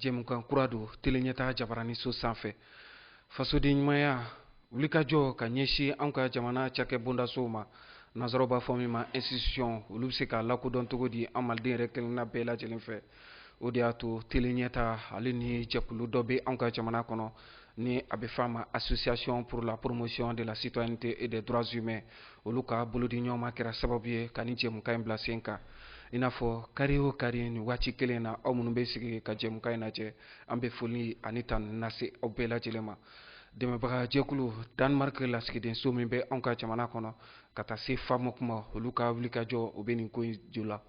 jɛmukan kura don teleɲɛta jabaraniso sanfɛ fasoden ɲumanya wulikajɔ ka ɲɛsin an ka jamana cakɛ bondasow ma nansaraw b'a fɔ min ma institution olu bɛ se ka lakodɔn cogo di an maliden yɛrɛ kelenna bɛɛ lajɛlen fɛ o de y'a to teleɲɛta ale ni jɛkulu dɔ bɛ an ka jamana kɔnɔ ni a bɛ f'a ma association pour la promotion de la citoyenneté et des droits humains olu ka bolodi ɲɔgɔnma kɛra sababu ye ka nin jɛmukan in bila sen kan i n'a fɔ kari o kari nin waati kelen na aw minnu bɛ sigi ka jɛmukan in lajɛ an bɛ foli ani tanu lase aw bɛɛ lajɛlen ma dɛmɛbagajɛkulu danmark lasigiden so min bɛ anw ka jamana kɔnɔ ka taa se famoc ma olu ka wulikajɔ o bɛ nin ko in ju la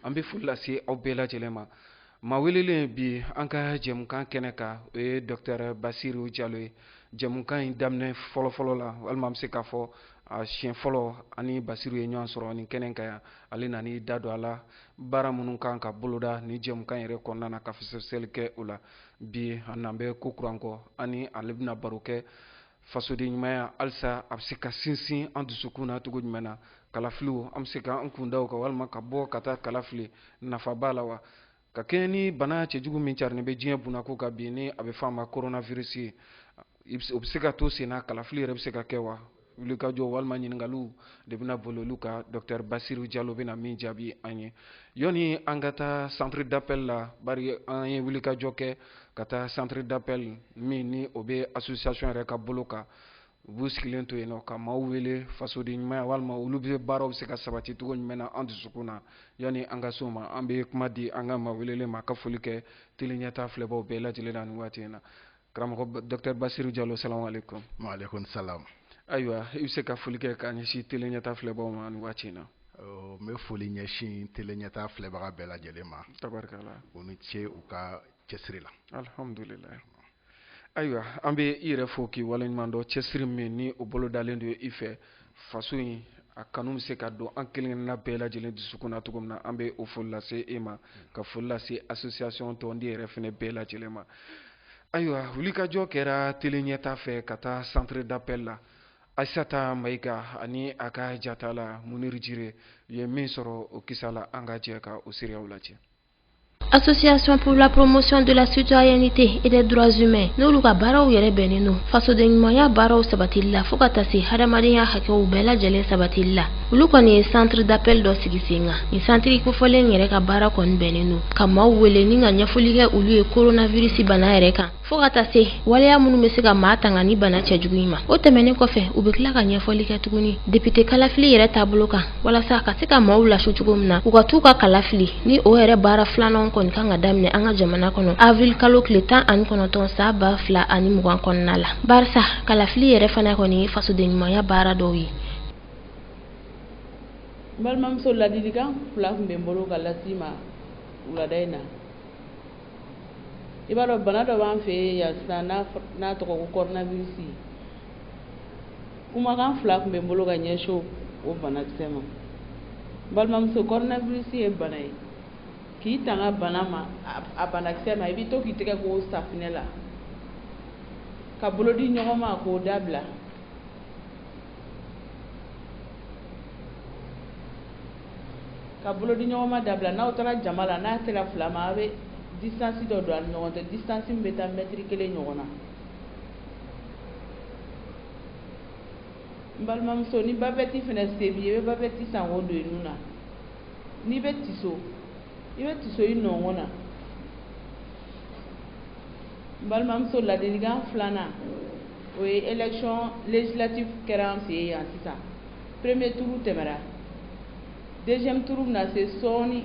an bɛ foli lase aw bɛɛ lajɛlen ma Maa welelen bi an ka jɛmukan kɛnɛ kan o ye docteur basiru jalo ye jɛmukan in daminɛ fɔlɔfɔlɔ la walima i bɛ se k'a fɔ a siɲɛ fɔlɔ an ni basiru ye ɲɔgɔn sɔrɔ nin kɛnɛ kan yan ale nana i da don a la baara minnu ka kan ka boloda nin jɛmukan yɛrɛ kɔnɔna na ka fɛsɛfɛsɛli kɛ o la bi a nalen bɛ kokura kɔ an ni ale bɛna baro kɛ fasoden ɲumanya halisa a bɛ se ka sinsin an dusukun na cogo jumɛn na kalafiliw an bɛ se ka an kun da o kan walima ka bɔ ka taa kala fili nafa b'a la wa ka kɛɲɛ ni bana cɛjugu min carinen bɛ diɲɛ bunnako kan bi ni a bɛ fɔ a ma coronavirus ye o bɛ se ka to sen na kalafili yɛrɛ bɛ se ka kɛ wa wulikajɔ walima ɲininkaliw de bɛna boli olu kan docteur basiru jalo bɛna min jaabi an ye yanni an ka taa centre d'appel la bari an ye wulikajɔ kɛ ka taa centre d'appel min ni o bɛ association yɛrɛ ka bolo kan u b'u sigilen to yen nɔ ka maaw wele fasoden ɲumanya walima olu bɛ baaraw bɛ se ka sabati cogo jumɛn na an dusukun na yanni an ka se o ma an bɛ kuma di an ka maa welelen ma ka foli kɛ tele ɲɛtaa filɛbaaw bɛɛ lajɛlen na nin waati in na karamɔgɔ docteur Basiru Jalo salamu aleykum. Wa aleykum salam. Ayiwa i bɛ se ka foli kɛ k'a ɲɛsin tele ɲɛtaa filɛbaaw ma nin waati in na. n bɛ foli ɲɛsin teleɲɛta filɛbaga bɛɛ lajɛlen ma u ni ce u ka cɛsiri la ayiwa an bɛ i yɛrɛ fo k'i waleɲuman dɔn cɛsiri min ni o bolodalen don i fɛ faso in a kanu bɛ se ka don an kelen-kelenna bɛɛ lajɛlen dusukun na cogo min na an bɛ o foli lase e ma ka foli lase association tɔnden yɛrɛ fana bɛɛ lajɛlen ma ayiwa wulikajɔ kɛra teleɲɛta fɛ ka taa centre d'appel la Aissata Maïga ani a ka jatala Munir Djire u ye min sɔrɔ o kisa la an ka jɛ ka o seereyaw lajɛ. Association pour la promotion de la citoyenneté et des droits humains n'olu ka baaraw yɛrɛ bɛnnen don fasoden ɲumanya baaraw sabatili la fo ka taa se hadamadenya hakɛw bɛɛ lajɛlen sabatili la olu kɔni ye centre d'appel dɔ sigi sen kan nin santiri kofɔlen yɛrɛ ka baara kɔni bɛnnen don ka maaw wele ni ka ɲɛfɔli kɛ olu ye coronavirus bana yɛrɛ kan fɔɔ ka taa se waleya minnu bɛ se ka maa tanga ni bana cɛjugu in ma o tɛmɛnen kɔfɛ u bɛ tila ka ɲɛfɔli kɛ tuguni depite kalafili yɛrɛ taabolo kan walasa ka se ka maaw lasu cogo min na u ka t'u ka kala fili ni o yɛrɛ baara filananw kɔni kan ka daminɛ an ka jamana kɔnɔ avril kalo tile tan ani kɔnɔntɔn san ba fila ani mugan kɔnɔna la barisa kalafili yɛrɛ fana kɔni ye fasodenɲumanya baara dɔw ye n balimamuso ladilikan fila tun bɛ n bolo ka lase i ma wulada in na i b'a dɔn bana dɔ b'an fɛ yen yan sisan n'a tɔgɔ ko coronavirus kumakan fila tun bɛ n bolo ka ɲɛsin o banakisɛ ma balimamuso coronavirus ye bana ye k'i tanga bana ma a banakisɛ ma i bɛ to k'i tɛgɛ ko safinɛ la ka bolo di ɲɔgɔn ma k'o dabila Ka bolo di ɲɔgɔn ma dabila n'aw taara jama la n'a sera fila ma a bɛ distance dɔ don a ni ɲɔgɔn cɛ distance bɛ taa mɛtiri kelen ɲɔgɔn na n balimamuso ni bavette fana se b'i ye i bɛ bavette san k'o don i nun na n'i bɛ tiso i bɛ tiso i nɔnkɔn na n balimamuso ladilikan filanan o ye élection législative kɛra an fɛ yen yan sisan premier tour tɛmɛna deuxième tour bɛna se sɔɔni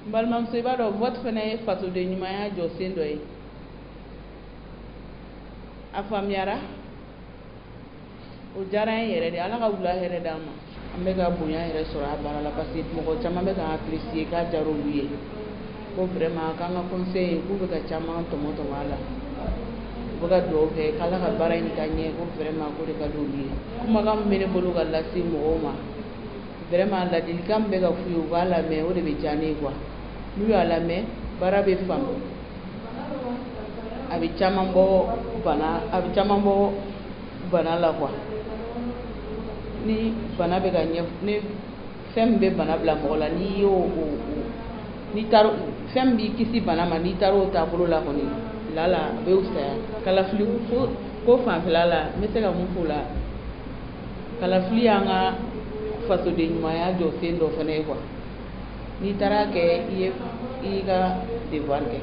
n balimamuso i b'a dɔn vote fana ye fasoden ɲumanya jɔsen dɔ ye a faamuyara o diyara n ye yɛrɛ de ala ka wula hɛrɛ d'an ma an bɛ ka bonya yɛrɛ sɔrɔ a baara la parce que mɔgɔ caman bɛ k'an apprécier k'a diyara olu ye ko vraiment k'an ka conseil k'u bɛ ka caman tɔmɔ tɔmɔ a la u bɛ ka dugawu kɛ k'Ala ka baara in taa ɲɛ ko vraiment k'o de ka di olu ye kumakan min bɛ ne bolo ka lase mɔgɔw ma vraiment ladilikan min bɛ ka f'u ye u k'a lamɛn o de bɛ diya ne ye quoi n'u y'a lamɛn baara bɛ faamu a bɛ caman bɔ bana a bɛ caman bɔ bana la quoi ni bana bɛ ka ɲɛ ni fɛn min bɛ bana bila mɔgɔ la n'i y'o to n'i taara fɛn min b'i kisi bana ma n'i taara o taabolo la kɔni lala a bɛ fisaya kalafili ko fanfɛla la n bɛ se ka mun f'o la kalafili y'an ka fasoden ɲumanya jɔsen dɔ fana ye quoi n'i taara kɛ i ye i ka devoir kɛ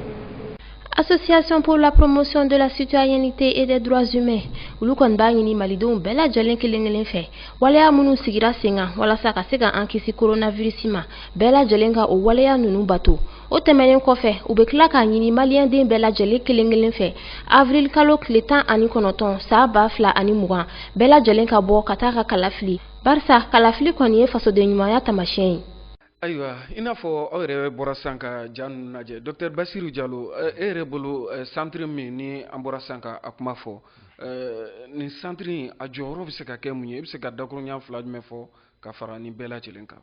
association pour la promotion de la citoyenneté et des droits humains olu kɔni b'a ɲini malidenw bɛɛ lajɛlen kelen kelen fɛ waleya minnu sigira sen kan walasa ka se ka an kisi coronavirus ma bɛɛ lajɛlen ka o waleya ninnu bato o tɛmɛnen kɔfɛ u bɛ tila k'a ɲini maliyɛnden bɛɛ lajɛlen kelen kelen fɛ avril kalo tile tan ani kɔnɔntɔn san ba fila ani mugan bɛɛ lajɛlen ka bɔ ka taa ka kalafili barisa kalafili kɔni ye fasodenɲumanya taamasiyɛn ye ayiwa i n'a fɔ aw yɛrɛ bɔra san ka ja ninnu lajɛ docteur basiru jalo eh, e yɛrɛ bolo eh, santiri min ni an bɔra san ka a kuma fɔ eh, nin santiri in a jɔyɔrɔ bɛ se ka kɛ mun ye i bɛ se ka dakurunɲa fila jumɛn fɔ ka fara nin bɛɛ lajɛlen kan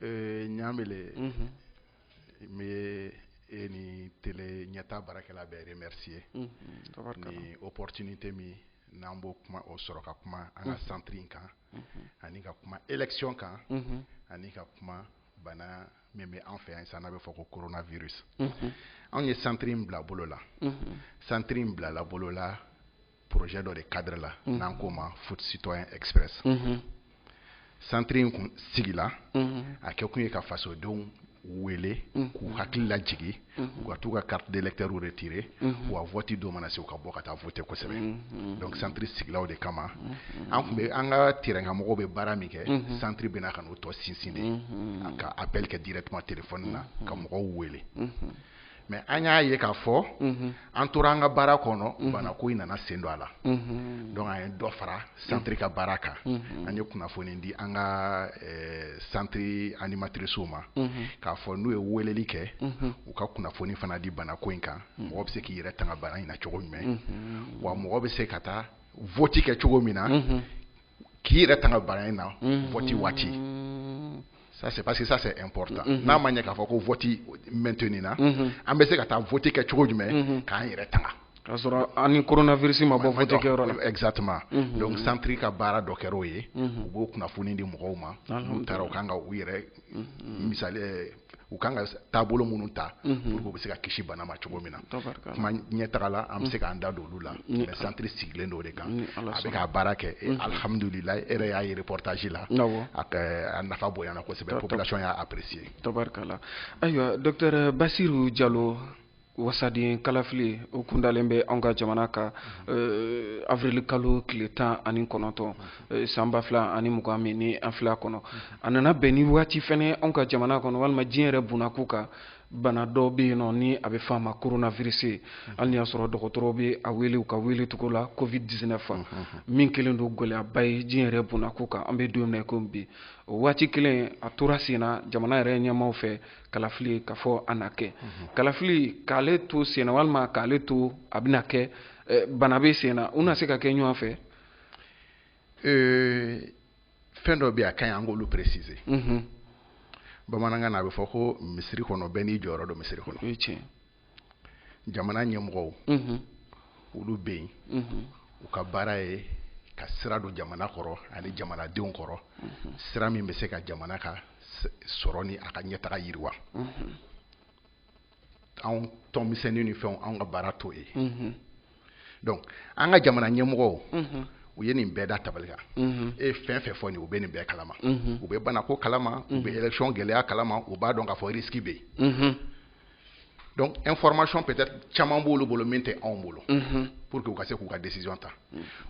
ɲamele mhm. n bɛ e ni tele ɲɛta baarakɛla bɛɛ remercier mhm, ni opportunité min n'an b'o kuma o sɔrɔ ka kuma an ka mhm. santiri in kan ani ka kuma élection kan ani ka kuma bana min bɛ an fɛ yan san n'a bɛ fɔ ko coronavirus anw ye santiri in bila bolo la santiri in bilala bolo la projet dɔ de cadre la n'an k'o ma vote citoyen express santiri in kun sigila a kɛkun ye ka fasodenw wele k'u hakili lajigin u ka t'u ka carte d'électeur retirer wa vote don mana se u ka bɔ ka taa voter kosɛbɛ donc centre sigila o de kama an tun bɛ an ka terrain kan mɔgɔw bɛ baara min kɛ centre bɛna ka n'o tɔ sinsin de ka appel kɛ directement téléphone na ka mɔgɔw wele mais an y'a ye k'a fɔ an tora an ka baara kɔnɔ bana ko in nana sen don a la donc an ye dɔ fara santiri ka baara kan an ye kunnafoni di an ka santiri animatricew ma k'a fɔ n'u ye weleli kɛ u ka kunnafoni fana di bana ko in kan mɔgɔ bɛ se k'i yɛrɛ tanga bana in na cogo jumɛn wa mɔgɔ bɛ se ka taa vote kɛ cogo min na k'i yɛrɛ tanga bana in na vote waati ça c'est parce que ça c'est important n'a ma ɲɛ k'a fɔ ko vote maintenu na an bɛ se ka taa vote kɛ cogo jumɛn k'an yɛrɛ tanga k'a sɔrɔ an ni coronavirus ma bɔ vote kɛyɔrɔ la exactement donc centre ka baara dɔ kɛra o ye u b'o kunnafoni di mɔgɔw ma n'u taara u kan ka u yɛrɛ misali u kan ka taabolo minnu ta mhm. pour que u bɛ se ka kisi bana ma cogo min na kuma ɲɛtaga la an bɛ se mhm. k'an da don olu la mais centre sigilen don o de kan a bɛ k'a baara kɛ mhm. alhamdulilayi e yɛrɛ y'a ye reportage la a nafa bonyana kosɛbɛ population y'a apprécier tabarikala ayiwa docteur basiru jalo wasaden kalafili o kundalen bɛ anw ka jamana kan eh, avril kalo tile tan ani kɔnɔntɔn eh, san ba fila ani mugan min ni an filɛ a kɔnɔ a nana bɛn ni waati fɛnɛ anw ka jamana kɔnɔ walima diɲɛ yɛrɛ bunako kan bana dɔ bɛ yen nɔ ni a bɛ f'a ma coronavirus hali ni y'a sɔrɔ dɔgɔtɔrɔw bɛ a wele u ka wele cogo la covid 19 fɛn min kɛlen don gɛlɛyaba ye diɲɛ yɛrɛ bunako kan an bɛ don min na i komi bi o waati kelen a tora sen na jamana yɛrɛ ɲɛmaaw fɛ kalafili ka fɔ a na kɛ mhm. kalafili k'ale to senna walima k'ale to a bɛna kɛ eh, bana bɛ senna u na se ka kɛ ɲɔgɔn fɛ eh, fɛn dɔ bɛ yen a ka ɲi an k'olu préciser mhm. bamanankan na a bɛ fɔ ko misiri kɔnɔ bɛɛ n'i jɔyɔrɔ don misiri kɔnɔ jamana ɲɛmɔgɔw olu bɛ yen u ka baara ye ka sira don jamana kɔrɔ ani jamanadenw kɔrɔ sira min bɛ se ka jamana ka sɔrɔ ni a ka ɲɛtaga yiriwa anw tɔn misɛnnin ni fɛn anw ka baara t'o ye donc an ka jamana ɲɛmɔgɔw u ye nin bɛɛ da tabali kan e fɛn fɛn fɔlen u bɛ nin bɛɛ kalama u bɛ banako kalama u bɛ élection gɛlɛya kalama u b'a dɔn k'a fɔ risque bɛ yen donc information peut-être caman b'olu bolo min tɛ anw bolo pour que u ka se k'u ka décision ta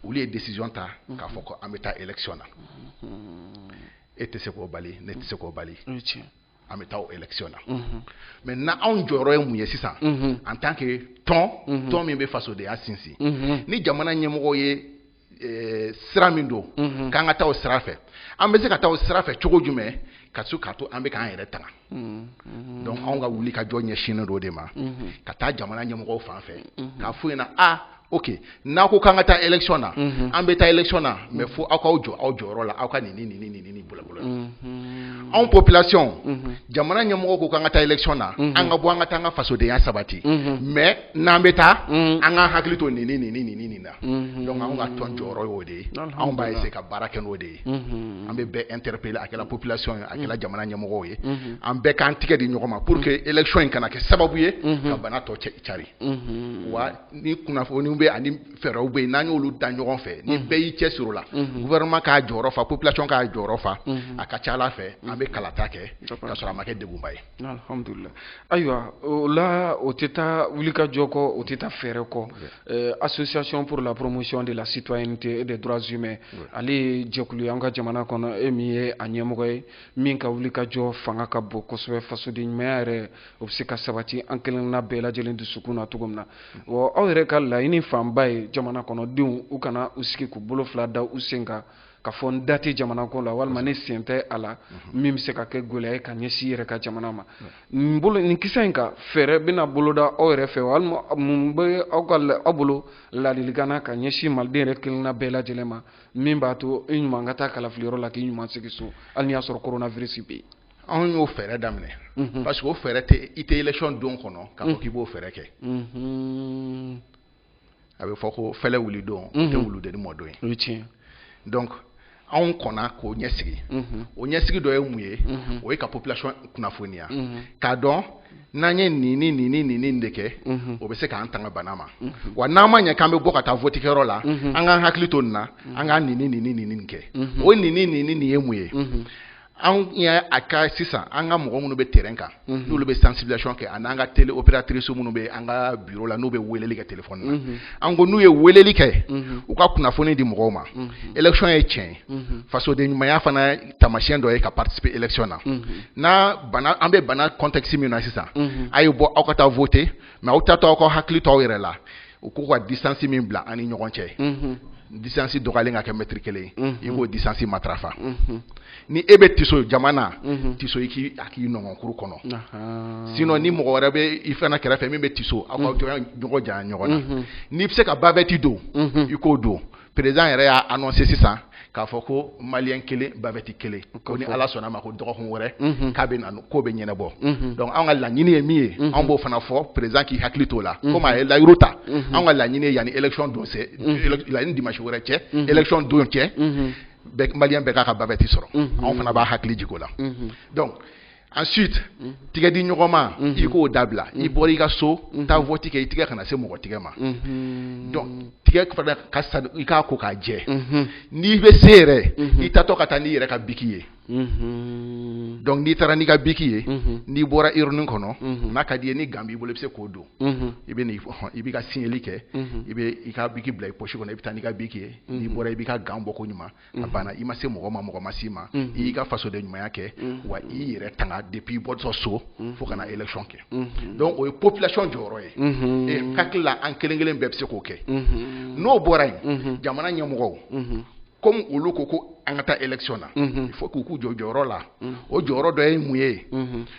olu ye décision ta k'a fɔ ko an bɛ taa élection na e tɛ se k'o bali ne tɛ se k'o bali an bɛ taa o élection na maintenant anw jɔyɔrɔ ye mun ye sisan en tant que tɔn tɔn min bɛ fasodenya sinsin ni jamana ɲɛmɔgɔ ye eh, sira min don k'an ka taa o sira fɛ an bɛ se ka taa o sira fɛ cogo jumɛn ka se k'a to an bɛ k'an yɛrɛ tanga donc anw ka wulikajɔ ɲɛsinnen don o de ma ka taa jamana ɲɛmɔgɔw fan fɛ k'a f'u ɲɛna a Ok n'aw ko k'an ka taa élection na an bɛ taa élection na mais fo aw k'aw jɔ aw jɔyɔrɔyɔrɔ la aw ka nin ni ni bolo bolo anw ko population jamana ɲɛmɔgɔ ko k'an ka taa élection na an ka bɔ an ka taa an ka fasodenya sabati mais n'an bɛ taa an ka hakili to nin ni ni ni ni na donc an ka tɔn jɔyɔrɔ oo de ye anw b'a se ka baara kɛ'o de ye an bɛ bɛn an teri pe a kɛra population a kɛra jamana ɲɛmɔgɔ ye an bɛɛ k'an tɛgɛ di ɲɔgɔn ma pour que élection in kana kɛ sababu ye ka bana tɔ cari ni kunnafoniw bɛ ani fɛɛrɛw bɛ yen n'an y'olu da ɲɔgɔn fɛ ni bɛɛ y'i cɛsiri o la gouvernement k'a jɔyɔrɔ fa population k'a jɔyɔrɔ fa a ka ca la a fɛ an bɛ kalata kɛ k'a sɔrɔ a ma kɛ degunba ye. Alihamudulila ayiwa o la o tɛ taa wulikajɔ kɔ o tɛ taa fɛɛrɛ kɔ association pour la promotion de la citoyenneté et des droits humains ale ye jɛkulu ye an ka jamana kɔnɔ e min ye a ɲɛmɔgɔ ye min ka wulikajɔ fanga ka bon kosɛbɛ fasoden ɲumanya yɛrɛ o bɛ se ka sabati an kelenna bɛɛ lajɛlen dusukun na cogo min na wa aw yɛrɛ ka laɲini fanba ye jamana kɔnɔdenw u kana u sigi k'u bolo fila da u sen kan k'a fɔ n da tɛ jamanako la walima ne sen tɛ a la min bɛ se ka kɛ gɛlɛya ye ka ɲɛsin yɛrɛ ka jamana ma nin bolo nin kisɛ in kan fɛɛrɛ bɛna boloda aw yɛrɛ fɛ walima mun bɛ aw ka aw bolo ladilikan na ka ɲɛsin maliden yɛrɛ kelenna bɛɛ lajɛlen ma min b'a to i ɲuman ka taa kalafiliyɔrɔ la k'i ɲuman segin so hali n'i y'a sɔrɔ koronavirisi bɛ yen anw y'o fɛɛrɛ daminɛ mhm. parce que o fɛɛrɛ tɛ i tɛ élection don kɔnɔ k'a fɔ mhm. k'i b'o fɛɛrɛ kɛ mhm. a bɛ fɔ ko fɛlɛ wuli don o tɛ wuludennin mɔ don ye o ye tiɲɛ donc anw kɔnna k'o ɲɛsigi o ɲɛsigi dɔ ye mun ye o ye ka population kunnafoniya k'a dɔn n'an ye nin ni nin ni nin de kɛ o bɛ se k'an tanga bana ma wa n'a ma ɲɛ k'an bɛ bɔ ka taa votikɛyɔrɔ la an k'an hakili to nin na an ka nin ni nin ni nin kɛ o nin ni nin ni nin ye mun ye anw y'a a ka sisan an ka mɔgɔ minnu bɛ terrain kan n'olu bɛ sensibilisation kɛ ani an ka télé opératrice minnu bɛ an ka bureau la n'u bɛ weeleli kɛ téléphone na an ko n'u ye weeleli kɛ u ka kunnafoni di mɔgɔw ma élection ye tiɲɛ ye fasoden ɲumanya fana taamasiyɛn dɔ ye ka participer élection na n'a bana an bɛ bana contexte min na sisan a ye bɔ aw ka taa voter mais aw taatɔ aw k'aw hakili to aw yɛrɛ la u ko ka distance min bila an ni ɲɔgɔn cɛ distance dɔgɔyalen ka kɛ mɛtiri kelen i k'o distance matarafa ni e bɛ tiso jama na tiso i k'a k'i nɔngɔnkuru kɔnɔ sinon ni mɔgɔ wɛrɛ bɛ i fana kɛrɛfɛ min bɛ tiso aw ka ɲɔgɔn jan ɲɔgɔn na n'i bɛ se ka bavette don i k'o don président yɛrɛ y'a annoncé sisan k'a fɔ ko malien kelen bavette kelen ko ni ala sɔnna ma ko dɔgɔkun wɛrɛ k'a bɛ na k'o bɛ ɲɛnabɔ donc an ka laɲini ye min ye an b'o fana fɔ président k'i hakili t'o la comme a ye layiru ta an ka laɲini ye yanni élection don cɛ yanni dimasi wɛrɛ cɛ élection don cɛ malien bɛɛ k'a ka bavette sɔrɔ anw fana b'a hakili jigi o la ensuite mm-hmm. tigɛ di ɲɔgɔnma mm-hmm. i k'o dabila i mm-hmm. bɔra i ka so taa vɔti kɛ i tigɛ kana se mɔgɔ tigɛ ma donc tigɛ fana ka sa i k'a ko k'a jɛ n'i bɛ se yɛrɛ i taatɔ ka taa n'i yɛrɛ ka biki ye donc n'i taara n'i ka biki ye n'i bɔra urne kɔnɔ n'a ka di i ye ni gant b'i bolo i bɛ se k'o don i bɛ i b'i ka siɲɛli kɛ i bɛ i ka biki bila i poche kɔnɔ i bɛ taa n'i ka biki ye n'i bɔra i b'i ka gant bɔ ko ɲuman a mhm. banna i ma se mɔgɔ ma mɔgɔ ma s'i ma mhm. i y'i ka fasoden ɲumanya kɛ mhm. wa i yɛrɛ tanga depuis i bɔtɔ so fo ka na élection kɛ donc o ye population jɔyɔrɔ ye e n hakili la an kelen kelen bɛɛ bɛ se k'o kɛ n'o bɔra yen jamana ɲɛmɔgɔw comme olu ko ko an ka taa élection na il faut k'u k'u jɔ jɔyɔrɔ la o jɔyɔrɔ dɔ ye mun ye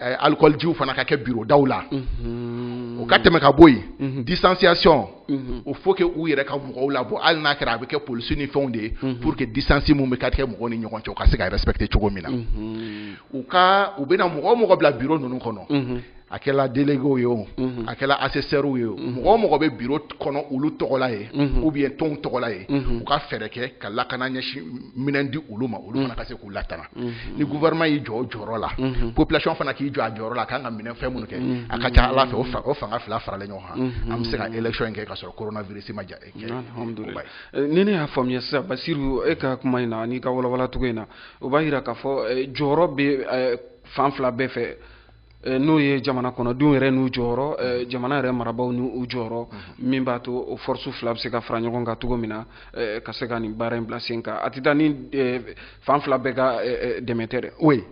eh, alikɔlijiw fana ka kɛ birodaw la o ka tɛmɛ ka bɔ yen distanciation il faut que u yɛrɛ ka mɔgɔw labɔ hali n'a kɛra a bɛ kɛ polisi ni fɛnw de ye pour que distance min bɛ ka kɛ mɔgɔw ni ɲɔgɔn cɛ u ka se ka respecter cogo min na u ka u bɛna mɔgɔ o mɔgɔ bila biro ninnu kɔnɔ a kɛra délégués ye o a kɛra assesseurs ye o mɔgɔ o mɔgɔ bɛ biro kɔnɔ olu tɔgɔla ye ou bien tɔnw tɔgɔla ye u ka fɛɛrɛ kɛ ka lakana ɲɛsin minɛn di olu ma olu fana ka se k'u latanga ni gouvernement y'i jɔ o jɔyɔrɔ la population fana k'i jɔ a jɔyɔrɔ la a kan ka minɛ fɛn minnu kɛ a ka ca ala fɛ o fanga fila faralen ɲɔgɔn kan an bɛ se ka élection in kɛ ka sɔrɔ coronavirus ma ja kɛ ni ne y'a faamuya sisan basiru e ka kuma in na n'i k'a walawala cogo in na o b'a jira k'a fɔ jɔyɔrɔ bɛ fan fila bɛɛ fɛ Eh, n'o ye jamana kɔnɔdenw yɛrɛ n'u jɔyɔrɔ eh, jamana yɛrɛ marabaaw ni u jɔyɔrɔ mhm. min b'a to o force fila bɛ se ka fara ɲɔgɔn kan cogo min na eh, ka se ka nin baara in bila sen kan a tɛ taa ni fan fila bɛɛ ka dɛmɛ tɛ dɛ oui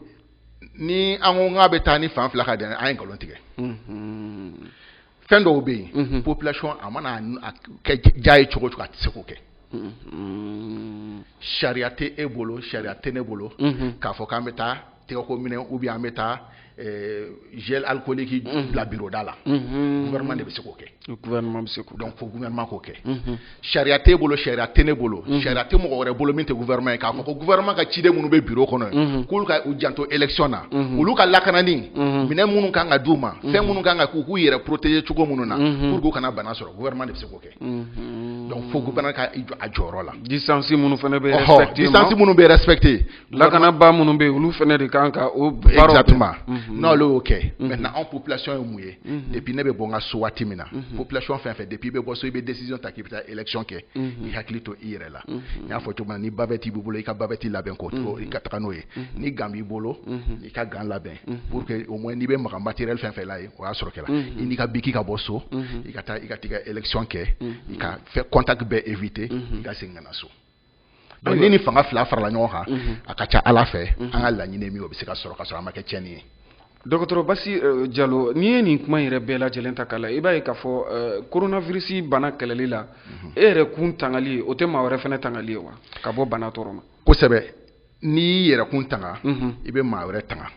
ni an ko k'a bɛ taa ni fan fila ka dɛmɛ an ye nkalon tigɛ mhm. fɛn dɔw bɛ yen population a mana kɛ ja ye cogo cogo a tɛ se k'o kɛ sariya tɛ e bolo sariya tɛ ne bolo k'a fɔ k'an bɛ taa tɛgɛko minɛn ou bien an bɛ taa eh, gel alcoolique bila bureau da la gouvernement de bɛ se k'o kɛ gouvernement bɛ se k'o donc fo gouvernement k'o kɛ sariya t'e bolo sariya tɛ ne bolo mhm. sariya tɛ mɔgɔ wɛrɛ bolo min tɛ gouvernement ye k'a fɔ ko gouvernement ka ciden minnu bɛ bureau kɔnɔ ye mhm. k'olu ka u janto élection na mhm. olu ka lakanani minɛn minnu kan ka d'u ma fɛn minnu kan ka k'u k'u yɛrɛ protéger cogo minnu na pour que u kana bana sɔrɔ gouvernement de bɛ se k'o kɛ donc fo gouvernement ka a jɔyɔrɔ la distance minnu fana bɛ respecter distance minnu bɛ respecter lakanabaa minnu bɛ yen olu fana de kan ka o exactement mhm. n'olu y'o kɛ mhm. maintenant anw population ye mun ye mhm. depuis ne bɛ bɔ n ka so waati min na population fɛn fɛn depuis i bɛ bɔ so i bɛ décision ta k'i bɛ taa élection kɛ i hakili to i yɛrɛ la n y'a fɔ cogo min na ni bavette b'i bolo i ka bavette labɛn k'o to i ka taga n'o ye ni gant b'i bolo i ka gant labɛn pour que au moins n'i bɛ maga matériel fɛn fɛn la yen o y'a sɔrɔ kɛra i n'i ka biki ka bɔ so i ka taa i ka t'i ka élection kɛ i ka fɛn contact bɛɛ éviter i ka segin ka na so donc ni ni fanga fila farala ɲɔgɔn kan mhm. a ka ca ala fɛ mhm. an ka laɲini min o bɛ se ka sɔrɔ k'a sɔrɔ a ma kɛ tiɲɛni ye dɔgɔtɔrɔ basi euh, jalo n'i ye nin kuma yɛrɛ bɛɛ lajɛlen ta k'a la i b'a ye k'a fɔ euh, coronavirus bana kɛlɛli la mhm. e yɛrɛ kun tangali o tɛ maa wɛrɛ fana tangali ye wa ka bɔ bana tɔɔrɔ ma kosɛbɛ n'i y'i yɛrɛ kun tanga i bɛ maa wɛrɛ tanga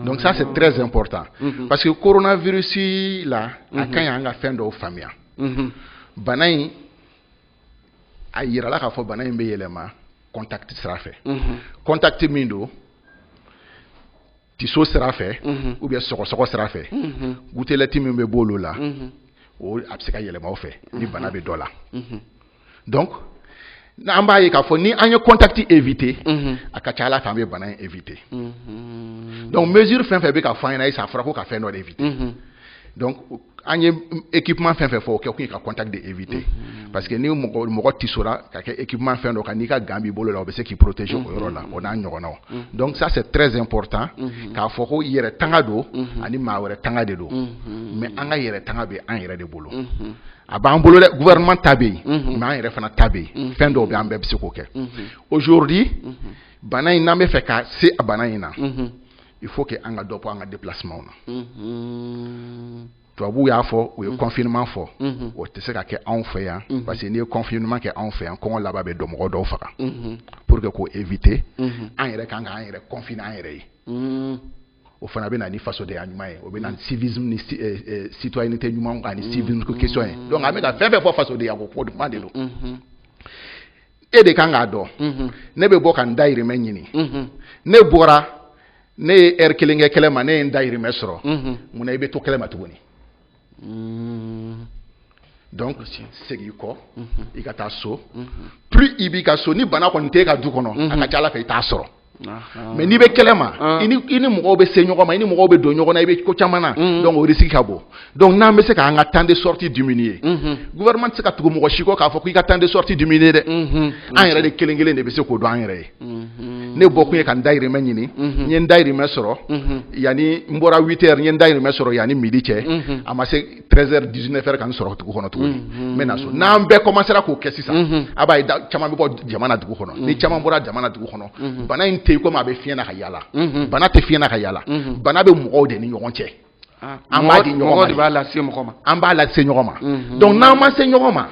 donc ça c'est très important parce que coronavirus la a ka ɲi an ka fɛn dɔw faamuya bana in a jirala k'a fɔ bana in bɛ yɛlɛma contact sira fɛ mhm. contact min don tiso sira fɛ mhm. ou bien sɔgɔsɔgɔ sira fɛ mhm. gouttelette min bɛ bɔ olu la o a bɛ se ka yɛlɛma o fɛ ni bana bɛ dɔ la donc an b'a ye k'a fɔ ni an ye contact éviter a ka ca ala fɛ an bɛ bana in éviter donc mesure fɛn fɛn bɛ ka fɔ an ɲɛna sisan a fɔra ko ka fɛn dɔ de éviter donc an ye équipement fɛn fɛn fɔ o kɛ kun ye ka contact de éviter mm-hmm. parce que ni mɔgɔ mɔgɔ tisora ka kɛ équipement fɛn dɔ kan n'i ka gant b'i bolo la o bɛ se k'i protéger o yɔrɔ la mm-hmm. o n'a ɲɔgɔnnaw mm-hmm. donc ça c'est très important k'a fɔ ko yɛrɛ tanga don ani maa wɛrɛ tanga de don mais an ka yɛrɛ tanga bɛ an yɛrɛ de bolo a b'an bolo dɛ gouvernement ta bɛ yen mais an yɛrɛ fana ta bɛ yen fɛn dɔw bɛ an bɛɛ bɛ se k'o kɛ aujourd'hui bana in n'an bɛ fɛ ka se a bana in na il faut que an ka dɔ bɔ an ka déplacement na mhm. tubabuw y'a fɔ u ye mhm. confinement fɔ mhm. o tɛ se ka kɛ anw fɛ yan parce que n'i ye confinement kɛ anw fɛ yan kɔngɔ laban bɛ dɔ mɔgɔ dɔw faga pour que k'o éviter an yɛrɛ kan k'an yɛrɛ confiner an yɛrɛ ye o fana bɛ na ni fasodenya ɲuman ye o bɛ na ni civisme ni eh, eh, citoyenneté ɲuman ani civisme ko question ye donc an bɛ ka fɛn fɛn fɔ fasodenya ko kuma de don e de kan k'a dɔn mhm. ne bɛ bɔ ka n dayirimɛ ɲini mhm. ne bɔra ne ye ɛri kelen kɛ kɛnɛ ma ne ye n dayirimɛ sɔrɔ mhm. mun na i bɛ to kɛnɛ ma tuguni mm. donc segin kɔ i ka taa so plus i b'i ka so ni bana kɔni t'e ka du kɔnɔ a ka ca a la fɛ i t'a sɔrɔ mais n'i bɛ kɛnɛ ma i ni mɔgɔw bɛ se ɲɔgɔn ma i ni mɔgɔw bɛ don ɲɔgɔn na i bɛ ko caman na o risque ka bon dɔnku n'an bɛ se k'an ka temps de sortie diminuer gouvernement tɛ se ka tugu mɔgɔ si kɔ k'a fɔ k' i ka temps de sortie diminuer dɛ an yɛrɛ de kelen kelen de bɛ se k'o dɔn an yɛrɛ ye ne bɔkun ye ka n dayirimɛ ɲini n ye n dayirimɛ sɔrɔ yanani n bɔra ye n dayirimɛ sɔrɔ yanani midi cɛ a ma heures dix-neuf heures ka n sɔrɔ dugu kɔnɔ tugun n bɛ na so n'an bɛɛ komansera k'o kɛ sisan a b'a ye caman bɛ bɔ jamana dugu kɔnɔ ni caman bɔra jamana dugu kɔnɔ bana in tɛ yen komi a bɛ fiɲɛ na ka yaala bana tɛ fiɲɛ na ka yaala bana bɛ mɔgɔw de ni ɲɔgɔn cɛ ah, an b'a di ɲɔgɔn b'a lase ɲɔgɔn ma an b'a lase ɲɔgɔn ma dɔnku n'an ma se ɲɔgɔn ma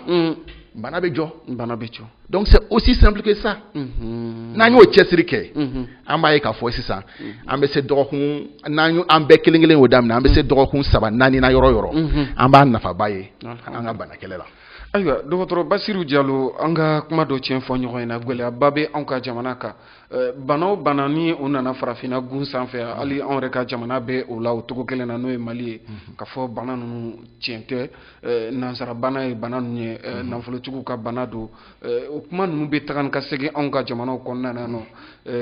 bana bɛ jɔ bana bɛ jɔ donc c'est aussi simple que ça mhm. n'an y'o cɛsiri kɛ mhm. an b'a ye k'a fɔ sisan mhm. an bɛ se dɔgɔkun n'an an bɛɛ kelen kelen y'o daminɛ an bɛ se dɔgɔkun saba naani na yɔrɔ yɔrɔ an b'a nafaba ye an ka bana kɛlɛ la ayiwa dɔgɔtɔrɔ basiru jalo an ka kuma dɔ tiɲɛ fɔ ɲɔgɔn ɲɛna gɛlɛyaba bɛ anw ka jamana kan eh, bana o bana ni o nana farafinna gun sanfɛ hali anw yɛrɛ ka jamana bɛ o la o cogo kelen na n'o ye mali ye k'a fɔ bana ninnu tiɲɛ tɛ Eh, nansara bana ye bana ninnu ye eh, mhm. nafolotigiw ka bana don eh, o kuma ninnu bɛ taga ni ka segin anw ka jamanaw kɔnɔna na nɔ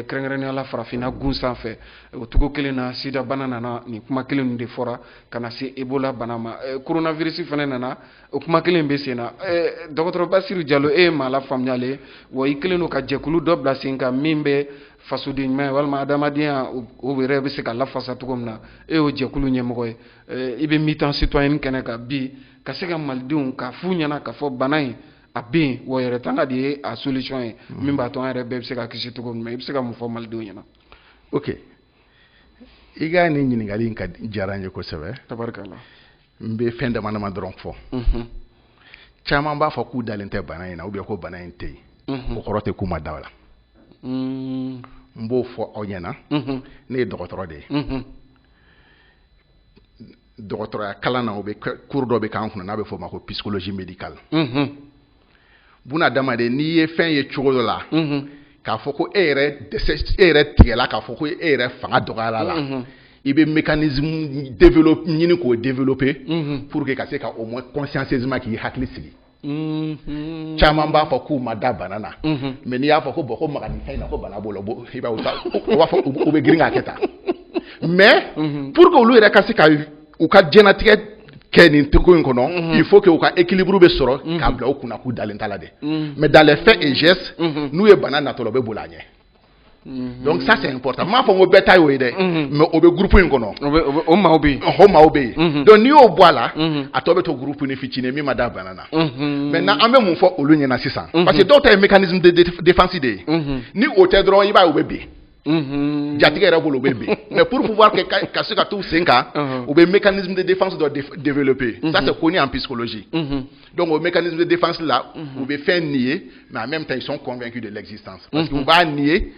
kɛrɛnkɛrɛnnenya la farafinna gun sanfɛ o cogo kelen na sida bana nana nin kuma kelen ninnu de fɔra ka na se ebola bana ma coronavirus fana nana o kuma kelen bɛ sen na dɔgɔtɔrɔ basiru jalo e ye maa lafaamuyalen ye wa i kɛlen don ka jɛkulu dɔ bila sen kan min bɛ fasoden ɲuman ye walima adamadenya o yɛrɛ bɛ se ka lafasa cogo min na e y'o jɛkulu ɲɛmɔgɔ ye eh, i bɛ mitan sitɔyɛni kɛnɛ kan bi ka se ka malidenw k'a f'u ɲɛna k'a fɔ bana in a bɛ yen wa yɛrɛ tanga de ye a solution ye mm. min b'a to an yɛrɛ bɛɛ bɛ se ka kisi cogo min na i bɛ se ka mun fɔ malidenw ɲɛna ok i ka nin ɲininkali in ka diyara n ye kosɛbɛ tabarikala n bɛ fɛn dama dama dɔrɔn fɔ mhm. caman b'a fɔ k'u dalen tɛ bana in na ou bien ko bana in tɛ yen mhm. o kɔrɔ tɛ k'u ma da la mm. n b'o fɔ aw ɲɛna mhm. ne ye dɔgɔtɔrɔ de ye dɔgɔtɔrɔya kalan na u bɛ cours dɔ bɛ k'an kunna n'a bɛ f'o ma ko psychologie médicale unhun buna adamaden n'i ye fɛn ye cogo dɔ la unhun k'a fɔ ko e yɛrɛ dɛsɛ e yɛrɛ tigɛla k'a fɔ ko e yɛrɛ fanga dɔgɔyara la unhun i bɛ mécanisme dɔw ɲini k'o développer unhun pour que ka se ka au moins consciencieusement k'i hakili sigi Mm-hmm. caman b'a fɔ k'u ma da bana na mm-hmm. mais n'i y'a fɔ ko bon ko maga nin fɛn na ko bana b'o la i b'a b'a fɔ u bɛ girin k'a kɛ tan mais mm-hmm. pour que olu yɛrɛ ka se ka u ka diɲɛnatigɛ kɛ nin teko in kɔnɔ il faut que u ka équilibre bɛ sɔrɔ k'a bila u kun na k'u dalen t'a la dɛ mais dans les faits et gestes n'u ye bana natɔla u bɛ boli a ɲɛ Mhm. donc ça c'est important n m'a fɔ ko bɛɛ ta y'o ye dɛ mhm. mais o bɛ groupe in kɔnɔ o maaw bɛ yen o maaw bɛ yen donc n'i y'o bɔ a la a tɔ bɛ to groupenin fitinin min ma da bana na maintenant an bɛ mun fɔ olu ɲɛna sisan parce que dɔw ta ye mécanisme de défense de ye ni o tɛ dɔrɔn i b'a ye u bɛ bin Mhm. jatigɛ yɛrɛ bolo u bɛ bin mais pour pouvoir que ka se ka t'u sen kan u bɛ mécanisme de défense dɔ développer ça mhm. c'est connu en psychologie mhm. Donc o mécanisme de défense la, mm -hmm. u bɛ fɛn nier mais en même temps ils sont convaincus de l'existence. Parce que u b'a nier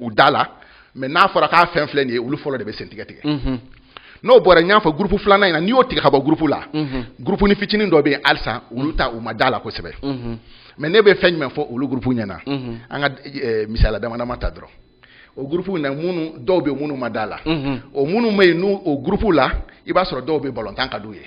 u da la mais n'a fɔra k'a fɛn filɛ nin ye olu fɔlɔ de bɛ sen tigɛ tigɛ. n'o bɔra n y'a fɔ groupe filanan in na n'i y'o tigɛ ka bɔ groupe la. groupenin fitinin dɔ bɛ yen halisa olu ta u ma d'a la kosɛbɛ. mais ne bɛ fɛn jumɛn fɔ olu groupe ɲɛna. an ka eh, misaliya dama dama ta dɔrɔn. o groupe na minnu dɔw bɛ minnu ma d'a la. o minnu bɛ yen n'o o groupe la i b'a sɔrɔ dɔw bɛ balontan ka d'u ye.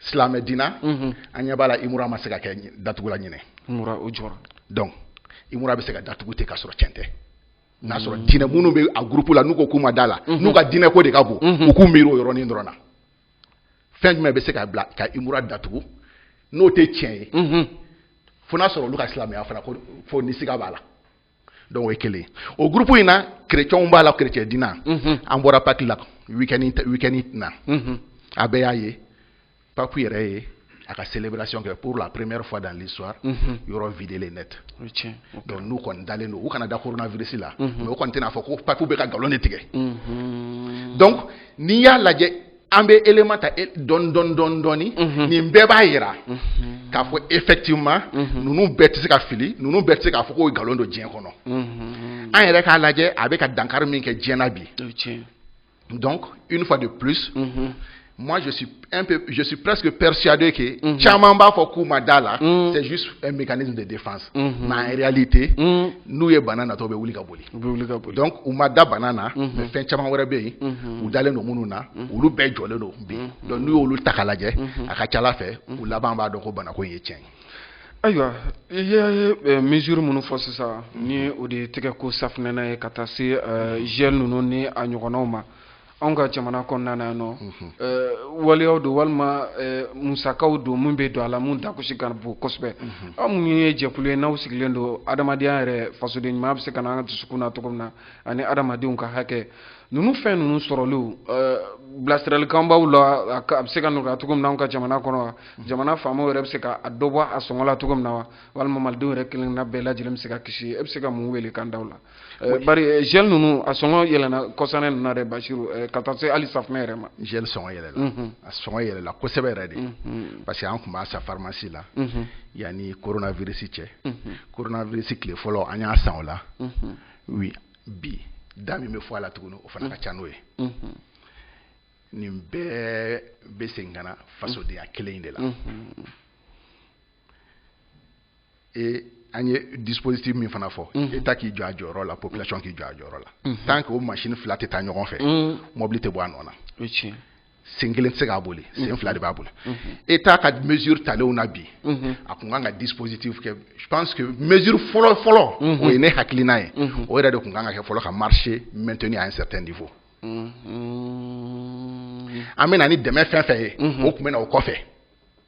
silamɛ diina mhm. an ɲɛ b'a la imura ma se ka kɛ datugula ɲinan imura jɔra donc imura bɛ se ka datugu ten k'a sɔrɔ cɛn tɛ n'a sɔrɔ mm. diinɛ minnu bɛ a groupe la n'u ko k'u ma da la mhm. n'u ka diinɛ ko de ka bon mhm. u k'u miiri o yɔrɔnin dɔrɔn na fɛn jumɛn bɛ se k'a bila ka imura datugu n'o tɛ tiɲɛ ye fo n'a sɔrɔ olu ka silamɛya fana ko fo ni siga b'a la donc o ye kelen o groupe in na kerecɛnw b'a la kerecɛn diina mhm. an bɔra Pâques la week-end in na mhm. a bɛɛ y'a ye papu yɛrɛ ye a ka célébration kɛ pour la première fois dans l'histoire mhm. yɔrɔ vidélen net donc n'u kɔni dalen don u kana da coronavirus la mais u kɔni tɛna fɔ ko papu bɛ ka nkalon de tigɛ donc n'i y'a lajɛ an bɛ élément ta e, dɔɔni dɔɔni dɔɔni dɔɔni mhm. nin bɛɛ b'a jira mhm. k'a fɔ effectivement mhm. ninnu bɛɛ tɛ se ka fili ninnu bɛɛ tɛ se k'a fɔ ko nkalon don diɲɛ kɔnɔ an yɛrɛ k'a lajɛ a bɛ ka dankari min kɛ diɲɛ na bi donc une fois de plus moi je suis un peu je suis presque persuadé que caman b'a fɔ k'u ma d'a la c'est juste un mécanisme de défense mais en réalité n'u ye bana natɔ bɛ wuli ka boli U bɛ wuli ka bɔ donc u ma da bana na mais fɛn caman wɛrɛ bɛ yen u dalen don minnu na olu bɛɛ jɔlen don bi donc n'u y'olu ta k'a lajɛ a ka ca la fɛ u laban b'a dɔn ko bana ko ye cɛn ye ayiwa i ye mesure minnu fɔ sisan ni o de ye tɛgɛko safinɛ na ye ka taa se gel ninnu ni a ɲɔgɔnw ma anw ka jamana kɔnɔna na yan n'o waleyaw don walima musakaw don min bɛ don a la mun dagosi ka bon kosɛbɛ aw minnu ye jɛkulu ye n'aw sigilen don adamadenya yɛrɛ fasoden ɲuman bɛ se ka na an ka dusukun na cogo min na ani adamadenw ka hakɛ ninnu fɛn ninnu sɔrɔliw bilasiralikan b'aw la a bɛ se ka nɔgɔya cogo min na anw ka jamana kɔnɔ wa jamana faamaw yɛrɛ bɛ se ka dɔ bɔ a sɔngɔ la cogo min na wa walima malidenw yɛrɛ kelen na bɛɛ lajɛlen bɛ se ka kisi e bɛ se ka mun welekan da la Eh, bari eh, gel ninnu a sɔngɔ yɛlɛna kɔsa ninnu na dɛ basiru eh, ka taa se hali safunɛ yɛrɛ ma gel sɔngɔ yɛlɛla mhm. a sɔngɔ yɛlɛla kosɛbɛ yɛrɛ de mhm. parce que an tun b'a san farimasi la mhm. yanni coronavirus cɛ coronavirus tile fɔlɔ an y'a san o la wi bi da min bɛ fɔ a la tuguni o fana ka ca n'o ye nin bɛɛ bɛ segin ka na fasodenya kelen in de la e an ye dispositif min fana fɔ état k'i jɔ a jɔyɔrɔ la population k'i jɔ a jɔyɔrɔ la tant qu'o maa fila tɛ taa ɲɔgɔn fɛ mɔbili tɛ bɔ a nɔ na sen kelen tɛ se k'a boli sen fila de b'a boli état ka mesure talen na bi a tun kan ka dispositif kɛ je pense que mesure fɔlɔ fɔlɔ o ye ne hakili n'a ye o yɛrɛ de tun kan ka kɛ fɔlɔ ka marché maintenir à certain niveau an bɛ na ni dɛmɛ fɛn fɛn ye o tun bɛ na o kɔfɛ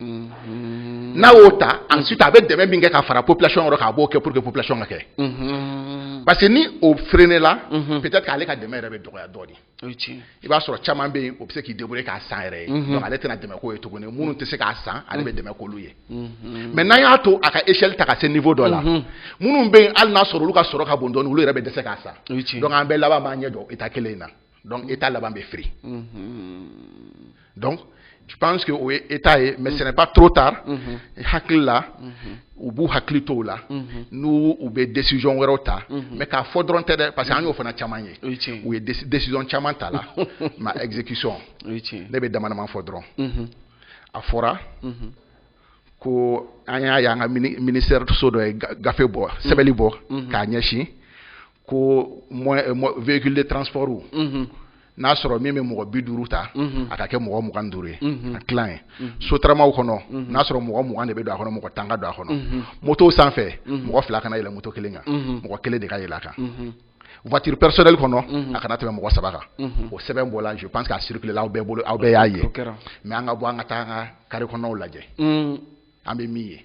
n'a y'o ta an si a bɛ dɛmɛ min kɛ ka fara population yɔrɔ k'a b'o kɛ pour que ppilay ka kɛ parce que ni o feere ne la p k'ale ka dɛmɛ yɛrɛ bɛ dɔgɔya dɔɔnin i b'a sɔrɔ caman bɛ yen o bɛ se k'i dɛmɛ k'a san yɛrɛ ye ale tɛna dɛmɛ k'o ye tuguni minnu tɛ se k'a san ale bɛ dɛmɛ k'olu ye mais n'a y'a to a ka ecli ta ka se niveau dɔ la minnu bɛ hali n'a sɔrɔ olu ka sɔrɔ ka bon dɔɔnin olu yɛrɛ bɛ dɛsɛ se k'a san an bɛɛ laban b'an ɲɛ jɔ état kelen in na donc état laban bɛ firi donc je pense que o ye état ye mais ce n'est pas trop tard hakili la u b'u hakili to o la n'u u bɛ décision wɛrɛw ta mais k'a fɔ dɔrɔn tɛ dɛ parce que an y'o fana caman ye o ye tiɲɛ ye u ye déci- décision caman tala mais exécution o ye tiɲɛ ye ne bɛ damadama fɔ dɔrɔn Mhm. a fɔra ko an y'a ye an ka mini- ministère so dɔ ye ga- gafe bɔ sɛbɛnni bɔ k'a ɲɛsin ko véhicule de transportw n'a sɔrɔ min bɛ mɔgɔ bi duuru ta a ka kɛ mɔgɔ mugan duuru ye a tila ye sotaramaw kɔnɔ n'a sɔrɔ mɔgɔ mugan de bɛ don a kɔnɔ mɔgɔ tan ka don a kɔnɔ motow sanfɛ mɔgɔ fila kana yɛlɛ moto kelen kan mɔgɔ kelen de ka yɛlɛ a kan voiture personnelle kɔnɔ a kana tɛmɛ mɔgɔ saba kan o sɛbɛn bɔla je pense que a circuler la aw bɛɛ bolo aw bɛɛ y'a ye mais an ka bɔ an ka taa an ka kari kɔnɔw lajɛ an bɛ min ye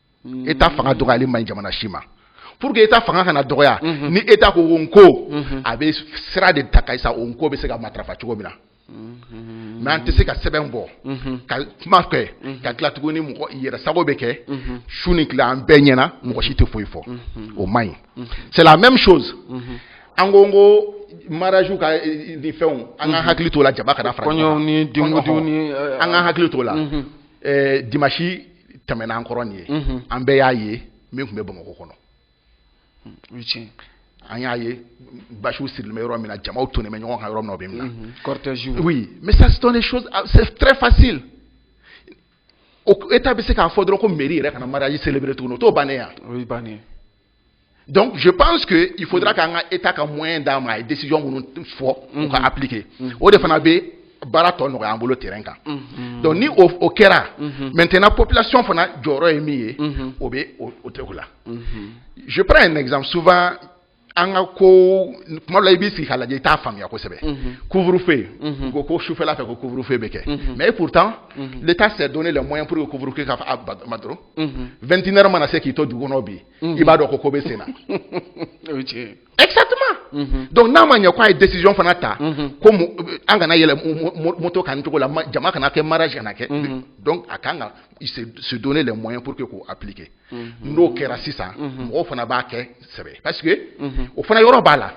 état fanga dɔgɔyalen man ɲi jamana si ma pour que état fanga kana dɔgɔya mhm. ni état ko n ko mhm. a bɛ sira de ta ka sa o ko bɛ se ka matarafa cogo min na mhm. mais an tɛ se ka sɛbɛn bɔ ka kuma kɛ ka tila tuguni mɔgɔ yɛrɛ sago bɛ kɛ su ni tile an bɛɛ ɲɛna mɔgɔ si tɛ foyi fɔ o man ɲi c'est la même chose an ko n ko mariage ka eh, ni fɛnw an ka hakili t'o la jama kana fara kɔɲɔw ni denkundiw ni an ka hakili t'o la dimanche tɛmɛna an kɔrɔ nin ye mhm. an bɛɛ y'a ye min tun bɛ bamakɔ kɔnɔ hmm, an y'a ye basiw sirilen bɛ yɔrɔ min na jamaw tonnen bɛ ɲɔgɔn kan yɔrɔ min na o bɛ min na mhm, cortège oui mais ça c'est des choses ah, c'est très facile o état bɛ se k'a fɔ dɔrɔn ko mairie yɛrɛ kana mariage célébrer tuguni o t'o bannen ye wa o y'a bannen ye donc je pense que il faudra k'an ka état ka moyen d'a ma a ye décision minnu fɔ u ka appliquer o de fana bɛ baara tɔ nɔgɔya an bolo terrain kan donc ni o o kɛra maintenant population fana jɔyɔrɔ ye min ye o bɛ o o tɛ o la je prends un exemple souvent an ka ko tuma dɔ la i b'i sigi k'a lajɛ i t'a faamuya kosɛbɛ couvre feu u ko ko sufɛla fɛ ko couvre feu bɛ kɛ mais pourtant l'état s'est donné les moyens pour que couvre feu ka fa a ba ma dɔrɔn 21 heures mana se k'i to dugu kɔnɔ bi i b'a dɔn ko ko bɛ sen na exactement donc n'a ma ɲɛ k'a ye décision fana ta ko an kana yɛlɛn moto kan cogo la jama kana kɛ mariage kana kɛ donc a ka kan ka se donner les moyens pour que k'o appliquer n'o kɛra sisan mɔgɔw fana b'a kɛ sɛbɛ parce que o fana yɔrɔ b'a la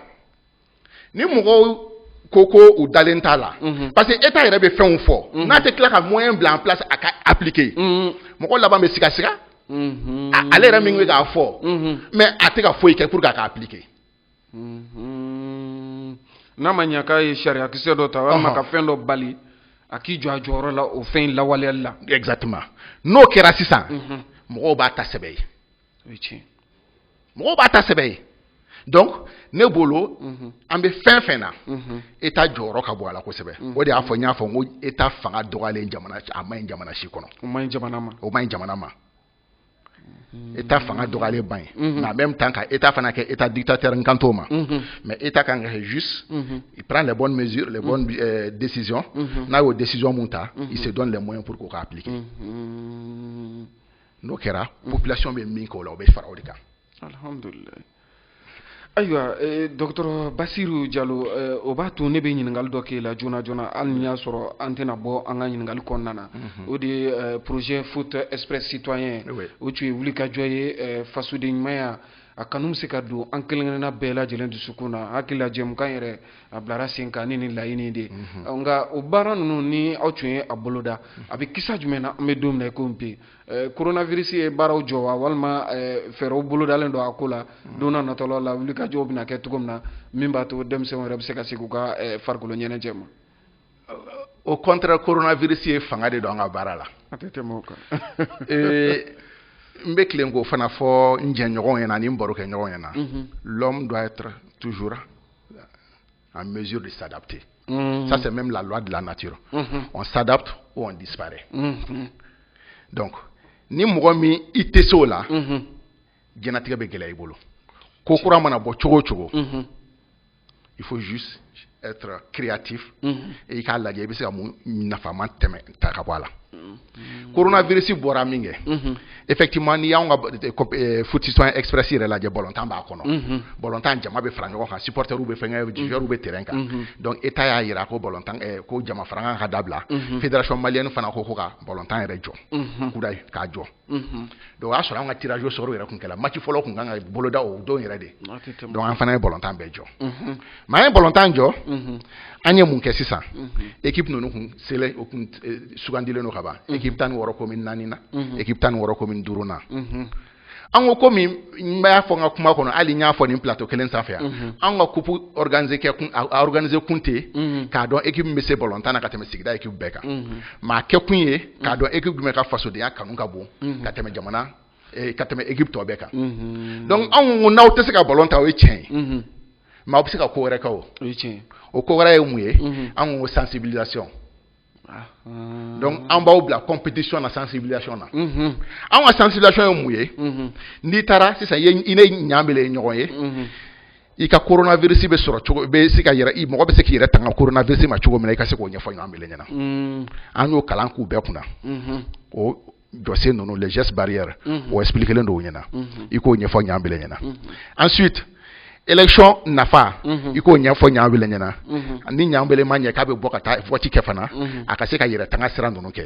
ni mɔgɔw ko ko u dalen t'a la mhm. parce que état yɛrɛ bɛ fɛnw fɔ mhm. n'a tɛ tila ka moyen bila en place a ka appliquer mhm. mɔgɔ laban bɛ sigasiga ale yɛrɛ min bɛ k'a fɔ mais a tɛ ka foyi kɛ pour que a ka appliquer n'a ma ɲa k'a ye sariyakisɛ dɔ ta walima ka fɛn dɔ bali a k'i jɔ a jɔyɔrɔ la o fɛn in lawaleyali la exactement n'o kɛra sisan mɔgɔw b'a ta sɛbɛ ye o ye tiɲɛ mɔgɔw b'a ta sɛbɛ ye donc ne bolo mhm. an bɛ fɛn fɛn na mhm. état jɔyɔrɔ ka bon a la kosɛbɛ mhm. o de y'a fɔ n y'a fɔ n ko état fanga dɔgɔyalen jamana a man ɲi jamana si kɔnɔ o man ɲi jamana ma o man ɲi jamana ma état fanga dɔgɔyalen man ɲi nka en même temps ka état fana kɛ état dictateur n kan t'o ma mais état kan ka kɛ juste il prend les bonnes mesures les bonnes euh, décisions n'a y'o décision min ta il se donne les moyens pour k'o ka appliquer n'o kɛra population bɛ min k'o la o bɛ fara o de kan. Alihamudulila. ayiwa eh, dɔgɔtɔrɔ basiru jalo eh, o b'a to ne bɛ ɲininkali dɔ k'e la joona joona hali n'i y'a sɔrɔ an tɛna bɔ an ka ɲininkali kɔnɔna na mhm. o de ye eh, projet foot express citoyen o tun ye wulikajɔ ye fasoden ɲumanya a kanu bɛ se ka don an kelen-kelenna bɛɛ lajɛlen dusukun na hakili la jɛmukan yɛrɛ a bilara sen kan ni nin laɲini de nka o baara ninnu ni aw tun ye a boloda a bɛ kisa jumɛn na an bɛ don min na ko bi koronafirisi ye baaraw jɔ wa walima fɛɛrɛw bolodalen don a ko la don natɔw la wulikajɔw bɛna kɛ cogo min na min b'a to denmisɛnw yɛrɛ bɛ se ka segin u ka farikolo ɲɛnajɛ ma au contraire koronafirisi ye fanga de don an ka baara la a tɛ tɛmɛ kan n bɛ tila k'o fana fɔ n jɛɲɔgɔn ɲɛna ani barokɛɲɔgɔn ɲɛna l'homme doit être toujours en mesure de s'adapter. Mmh. Ça, c'est même la loi de la nature. Mmh. On s'adapte ou on disparaît. Mmh. Donc, ni mɔgɔ min i tɛ se o la diɲɛnatigɛ bɛ gɛlɛya i bolo ko kura mana bɔ cogo o cogo il faut juste être créatif et i k'a lajɛ i bɛ se ka mun nafama tɛmɛ ta ka bɔ a la koronavirisi bɔra min kɛ effectivement n'i y'anw ka eh, eh, footissant express yɛrɛ lajɛ bɔlɔntan b'a kɔnɔ bɔlɔntan jama bɛ fara ɲɔgɔn kan supporters bɛ fɛn kɛ joueurs bɛ terrain kan donc état y'a jira ko bɔlɔntan eh, ko jama farankan ka dabila fédération malienne fana ko ko ka bɔlɔntan yɛrɛ jɔ kura k'a jɔ donc o y'a sɔrɔ an ka tirage au sort yɛrɛ tun kɛra match fɔlɔ tun kan ka boloda o don yɛrɛ de donc an fana ye bɔlɔntan bɛɛ jɔ mais an ye bɔlɔntan jɔ an ye mun kɛ sisan équipe ninnu kun sele u kun eh, sugandilen don ka ban équipe tan ni wɔɔrɔ commune naani na équipe tan ni wɔɔrɔ commune duuru na an ko komi n b'a fɔ n ka kuma kɔnɔ hali n y'a fɔ nin plateau kelen sanfɛ yan mhm. an ka kupu organiser kɛ kun a organiser kun tɛ mhm. k'a dɔn équipe min bɛ se bɔlɔntan na ka tɛmɛ sigida équipe bɛɛ kan mhm. mais a kɛ kun ye k'a dɔn équipe jumɛn ka fasodenya kanu ka bon ka tɛmɛ jamana ka tɛmɛ équipe tɔ bɛɛ kan donc anw ko n'aw tɛ se ka balɔn tan o ye tiɲɛ ye mais aw bɛ se ka ko wɛrɛ kɛ o ko wɛrɛ ye mun ye an ko sensibilisation donc an b'aw bila compétition na sensibilisation na an ka sensibilisation ye mun ye n'i taara sisan i ni Ɲabile ye ɲɔgɔn ye i ka koronavirisi bɛ sɔrɔ cogo bɛ se ka i mɔgɔ bɛ se k'i yɛrɛ tanga koronavirisi ma cogo min i ka se k'o ɲɛfɔ ɲɔgɔn ɲɛna an y'o kalan k'u bɛɛ kunna jɔsen ninnu les gestes barrières mhm. o expliquélen don u ɲɛna mhm. i k'o ɲɛfɔ Ɲabile ɲɛna mhm. ensuite élection nafa i k'o ɲɛfɔ Ɲabile ɲɛna ni Ɲabile ma ɲɛ k'a bɛ bɔ ka taa vote kɛ fana a ka se k'a yɛrɛ tanga sira ninnu kɛ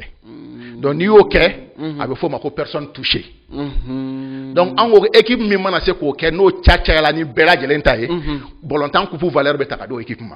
donc n'i y'o kɛ a bɛ f'o ma ko personne touchée donc an ko équipe min mana se k'o kɛ n'o ta cayala ni bɛɛ lajɛlen ta ye bɔlɔntan kupu valeur bɛ ta ka d'o équipe ma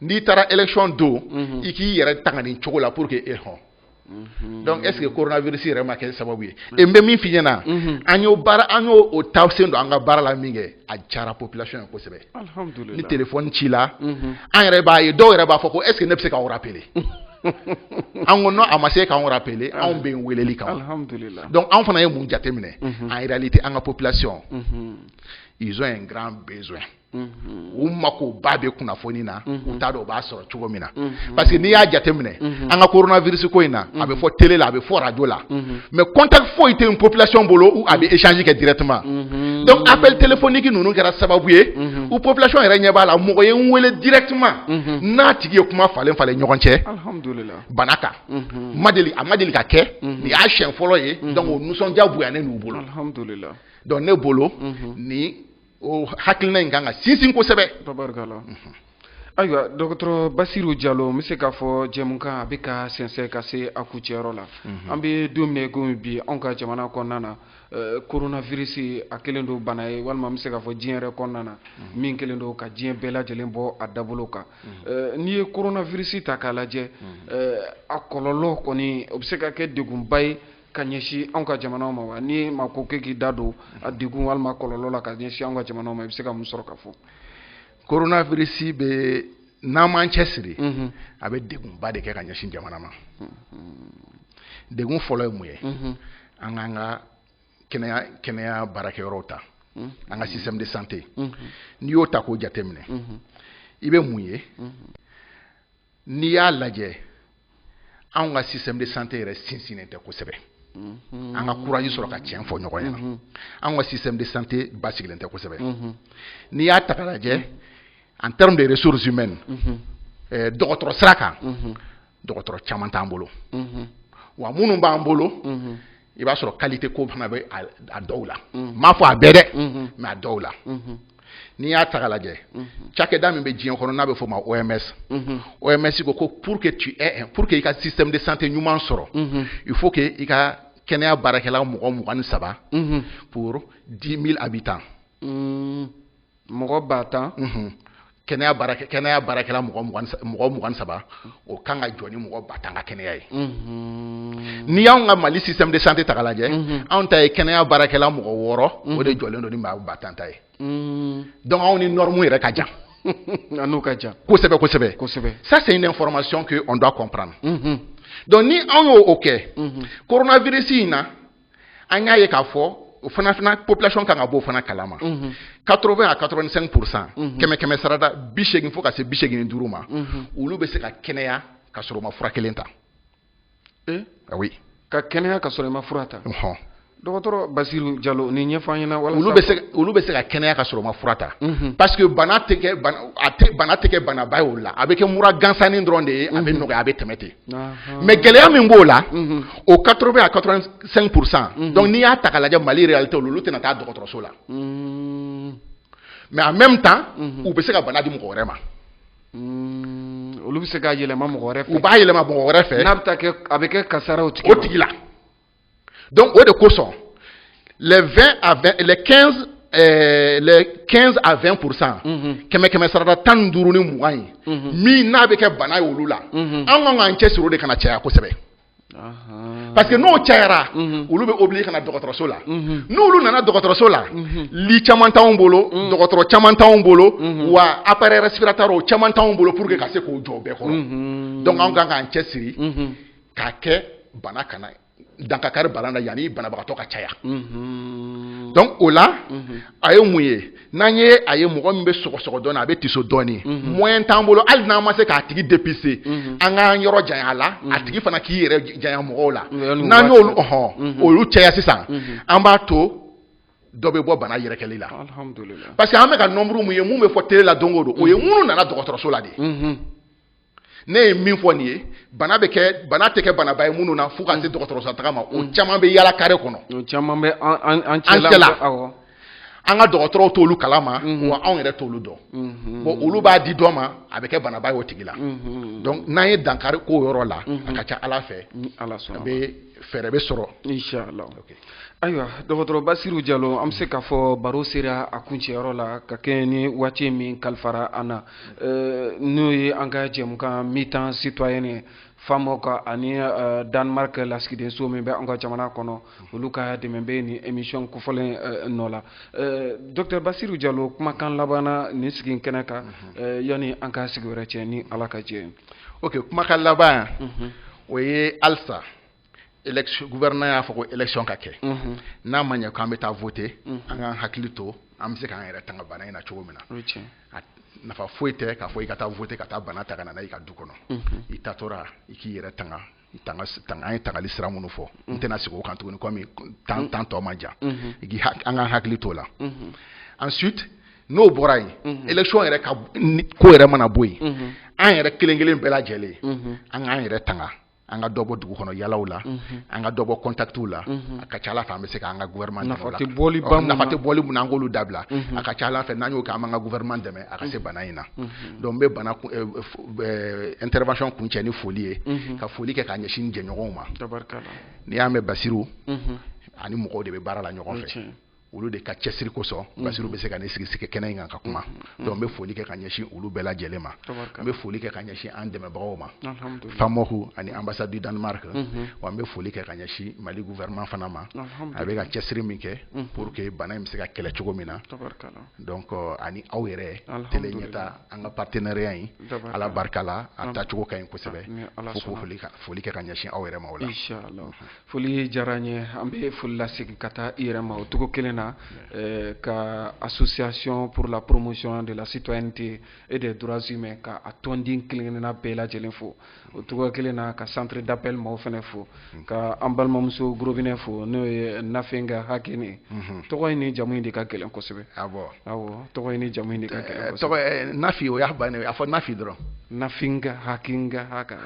n'i taara élection don i k'i yɛrɛ tanga nin cogo la pour que e hɔn donc est-ce que koronavirisi yɛrɛ ma kɛ sababu ye e n bɛ min f'i ɲɛ na an y'o an y'o ta sen don an ka baara la min kɛ a diyara population ye kosɛbɛ ni téléphone ci la an yɛrɛ b'a ye dɔw yɛrɛ b'a fɔ ko est-ce que ne bɛ se k'aw rappeler an ko n' a ma se k'an rappeler anw bɛ weleli kan donc anw fana ye mun jateminɛ en réalité an ka population ils ont un grand besoin u mako ba bɛ kunnafoni na u t'a dɔn u b'a sɔrɔ cogo min na parce que n'i y'a jateminɛ an ka korona virisi ko in na a bɛ fɔ tele la a bɛ fɔ arajo la mais contact foyi tɛ population bolo a bɛ échange kɛ directement donc appels téléphoniques ninnu kɛra sababu ye u population yɛrɛ ɲɛ b'a la mɔgɔ ye n weele directement n'a tigi ye kuma falen falen ɲɔgɔn cɛ bana kan ma deli a ma deli ka kɛ nin y'a siɲɛ fɔlɔ ye donc nisɔndiya bonyayan'u bolo ne bolo ni o hakilina in kan ka sinsin kosɛbɛ ayiwa dɔgɔtɔrɔ basiru jalo n bɛ se k'a fɔ jɛmukan a bɛ ka sɛnsɛn ka se a kucɛyɔrɔ la mhm. an bɛ don min na ko bi anw ka jamana kɔnɔna na eh, koronavirisi a kelen don bana ye walima an bɛ se k'a fɔ diɲɛ yɛrɛ kɔnɔna na mhm. min kelen don ka diɲɛ bɛɛ lajɛlen bɔ a dabolo kan mhm. eh, n'i ye koronavirisi ta k'a lajɛ eh, a kɔlɔlɔ kɔni o bɛ se ka kɛ degunba ye ka ɲɛsin anw ka jamana ma wa ni maa ko i k'i da don a degun walima kɔlɔlɔ la ka ɲɛsin anw ka jamana ma i bɛ se ka mun sɔrɔ ka fɔ coronavirus bɛ n'an m'an cɛsiri mhm. a bɛ degunba de kɛ ka ɲɛsin jamana ma mhm. degun fɔlɔ ye mun ye mhm. an k'an ka kɛnɛya kɛnɛya baarakɛyɔrɔw ta an ka système de santé n'i y'o ta k'o jateminɛ i bɛ mun ye n'i y'a lajɛ anw ka système de santé yɛrɛ sinsinnen tɛ kosɛbɛ mhm. an ka courage sɔrɔ ka tiɲɛ fɔ ɲɔgɔn ɲɛna mhm. anw ka système de santé basigilen tɛ kosɛbɛ mhm. n'i y'a ta ka lajɛ en terme de ressources humaines eh, dɔgɔtɔrɔ sira kan dɔgɔtɔrɔ caman t'an bolo wa minnu b'an bolo i b'a sɔrɔ qualité ko fana bɛ a dɔw la n m'a fɔ a bɛɛ dɛ mais a dɔw la n'i y'a ta k'a lajɛ cakɛda min bɛ diɲɛ kɔnɔ n'a bɛ fɔ a ma OMS OMS ko ko pour que tu pour que i ka système de santé ɲuman sɔrɔ il faut que i ka kɛnɛya baarakɛla mɔgɔ mugan ni saba pour dix mille habitants mɔgɔ ba tan kɛnɛya baara kɛnɛya baarakɛla mɔgɔ mɔgɔ mugan saba o kan ka jɔ ni mɔgɔ ba tan ka kɛnɛya ye n'i y'an ka mali système de santé ta k'a lajɛ anw ta ye kɛnɛya baarakɛla mɔgɔ wɔɔrɔ o de jɔlen don ni maa ba tan ta ye donc anw ni norme yɛrɛ ka jan a n'o ka jan kosɛbɛ kosɛbɛ kosɛbɛ ça c'est une information que on doit comprendre donc ni anw ye o kɛ coronavirus in na an y'a ye k'a fɔ o fana fana population kan ka b'o fana kalama 80 à 85 pourcent kɛmɛ kɛmɛ sarada bi seegin fo ka se bi seegin ni duuru ma olu bɛ se ka kɛnɛya ka sɔrɔ u ma fura kelen ta eh? ah oui ka kɛnɛya ka sɔrɔ i ma fura ta dɔgɔtɔrɔ basiru jalo nin ɲɛfɔ ɲɛna walasa olu bɛ se olu bɛ se ka kɛnɛya ka sɔrɔ ma fura ta mhm. parce que bana tɛ kɛ bana a tɛ bana tɛ kɛ banaba ye olu la a bɛ kɛ mura gansanni dɔrɔn de ye a bɛ mhm. nɔgɔya a bɛ tɛmɛ ten mais gɛlɛya min b'o la mhm. o 80 à 85 pourcent mhm. donc n'i y'a ta ka lajɛ mali réalité olu olu tɛna taa dɔgɔtɔrɔso la mhm. mais en même temps u bɛ se ka bana di mɔgɔ wɛrɛ ma olu bɛ se ka yɛlɛma mɔgɔ wɛrɛ fɛ u b'a yɛlɛma mɔgɔ wɛrɛ fɛ n'a bɛ taa kɛ a bɛ kɛ kasaraw tigi o tigi la Donc, o de kosɔn les 20 à 20, les 15 euh, les 15 à 20 pourcent kɛmɛ kɛmɛ sarada tan ni duuru ni mugan ye min n'a bɛ kɛ bana ye olu la an kan k'an cɛ siri de kana caya kosɛbɛ parce que n'o cayara olu bɛ obligé ka na dɔgɔtɔrɔso la n'olu nana dɔgɔtɔrɔso la lit caman t'anw bolo dɔgɔtɔrɔ caman t'anw bolo wa appareil respiratoire caman t'anw bolo pour que ka se k'o jɔ bɛɛ kɔrɔ donc an kan k'an cɛ siri k'a kɛ bana kana dan ka kari bana na yanni banabagatɔ ka caya mhm. donc o la mhm. a ye mun ye n'an ye a ye mɔgɔ min bɛ sɔgɔsɔgɔ dɔɔnin a bɛ tiso dɔɔnin mhm. moyen t'an bolo hali n'an ma se k'a tigi dépister an k'an yɔrɔ janya a la a tigi fana k'i yɛrɛ janya mɔgɔw la n'an y'olu ɔhɔn olu caya sisan an b'a to dɔ bɛ bɔ bana yɛrɛkɛli la parce que an bɛ ka nombre min ye min bɛ fɔ télé la don o don o ye minnu nana dɔgɔtɔrɔso la de ne ye min fɔ nin ye bana bɛ kɛ bana tɛ kɛ banaba ye minnu na fo ka se dɔgɔtɔrɔso taa ma o caman bɛ yaala kare kɔnɔ caman bɛ an cɛla an ka dɔgɔtɔrɔw t'olu kala ma wa anw yɛrɛ t'olu dɔn bon olu b'a di dɔ ma a bɛ kɛ banaba y'o tigi la donc n'an ye dankari k'o yɔrɔ la a ka ca ala fɛ ala bɛ fɛɛrɛ bɛ sɔrɔ ayiwa dɔgɔtɔrɔ basiru jalo an bɛ se k'a fɔ baro sera a kuncɛyɔrɔ la ka kɛɲɛ ni waati min kalifara an na Euh, n'o ye an ka jɛmukan mi-temps citoyenne ye famoc ani euh, danemark lasigidenso min bɛ an ka jamana kɔnɔ olu ka dɛmɛ bɛ nin émission kofɔlen euh, nɔ la docteur basiru jalo kumakan laban na nin sigi in kɛnɛ kan mhm. yanni an ka sigi wɛrɛ cɛ ni ala ka jɛ ok kumakan laban mhm. o ye halisa élection gouvernement y'a fɔ ko élection ka kɛ mhm. n'a ma ɲɛ k'an bɛ taa voter mhm. an k'an hakili to an bɛ se k'an yɛrɛ tanga bana in na cogo min na a nafa foyi tɛ k'a fɔ i ka taa voter ka taa bana ta ka na n'a ye i ka du kɔnɔ mhm. i taatɔla i k'i yɛrɛ tanga tanga tanga an ye tangali sira minnu fɔ n tɛna segin o kan tuguni comme temps temps tɔ man jan i k'i an k'an hakili to o la ensuite n'o bɔra yen élection yɛrɛ ka ko yɛrɛ mana bɔ yen an yɛrɛ kelen kelen bɛɛ lajɛlen an k'an yɛrɛ tanga an ka dɔbɔ dugu kɔnɔ yaalaw la an ka dɔbɔ contactw la a ka ca ala fɛ an bɛ se k'an ka gouvernement nafa tɛ bɔli min na an k'olu dabila a ka ca ala fɛ n'an y'o kɛ an b'an ka gouvernement dɛmɛ a ka se bana in na donc n bɛ bɛna intervention kuncɛ ni foli ye ka foli kɛ ka ɲɛsin jɛɲɔgɔnw ma n'i y'a mɛn basiru ani mɔgɔw de bɛ baara la ɲɔgɔn fɛ olu de ka cɛsiri kosɔn mhm. basiru bɛ se ka na sigi sigi kɛnɛ in kan ka kuma mhm. Mhm. donc n bɛ foli kɛ ka ɲɛsin olu bɛɛ lajɛlen ma n bɛ foli kɛ ka ɲɛsin an dɛmɛbagaw ma famoc ani ambassade du danemark wa n bɛ foli kɛ ka ɲɛsin mali gouvernement fana ma a bɛ ka cɛsiri min kɛ pour que bana in bɛ se ka kɛlɛ cogo min na donc euh, ani aw yɛrɛ tele ɲɛta an ka partenariat in ala barika la a tacogo ka ɲi kosɛbɛ fo k'o foli kɛ ka ɲɛsin aw yɛrɛ ma o la foli diyara n ye an bɛ foli lasegin ka taa i yɛrɛ ma o cogo kelen na eh, ka association pour la promotion de la citoyenneté et des droits humains ka a tɔnden kelen-kelenna bɛɛ lajɛlen fo o cogo kelen na ka centre d'appel maaw fana fo ka an balimamuso gorobinɛ fo n'o ye nafinga hakɛ ne tɔgɔ in ni jamu in de ka gɛlɛn kosɛbɛ tɔgɔ in ni jamu in de ka gɛlɛn kosɛbɛ. tɔgɔ nafi o y'a bannen a fɔ nafi dɔrɔn. nafinga hakinga haka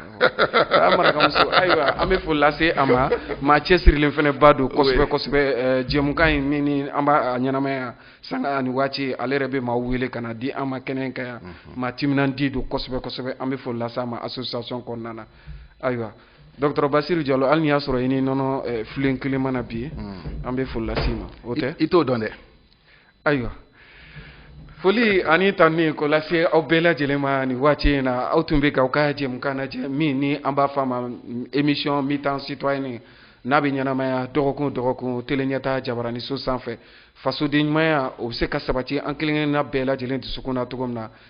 a marakamuso ayiwa an bɛ foli lase a ma maa cɛsirilen fana ba don kosɛbɛ kosɛbɛ jɛmukan in min ni an b'a ɲɛnamaya sanga ani waati ale yɛrɛ bɛ maaw wele ka na di an ma kɛnɛ in kan yan maa timinandi don kosɛbɛ kosɛbɛ an bɛ foli lase a ma association kɔnɔna na ayiwa dɔgɔtɔrɔ basiru jalo hali ni y'a sɔrɔ i ni nɔnɔ filen kelen ma na bi an bɛ foli lase i ma o tɛ i t'o dɔn dɛ. ayiwa foli ani tanuni k'o lase aw bɛɛ lajɛlen ma nin waati in na aw tun bɛ ka aw ka jɛmukan lajɛ min ni an b'a fɔ a ma émission mi-temps citoyenne n'a bɛ ɲɛnamaya dɔgɔkun dɔgɔkun teleɲɛta jabaraniso sanfɛ fasoden ɲumanya o bɛ se ka sabati an kelen-kelenna bɛɛ lajɛlen dusukun na cogo min na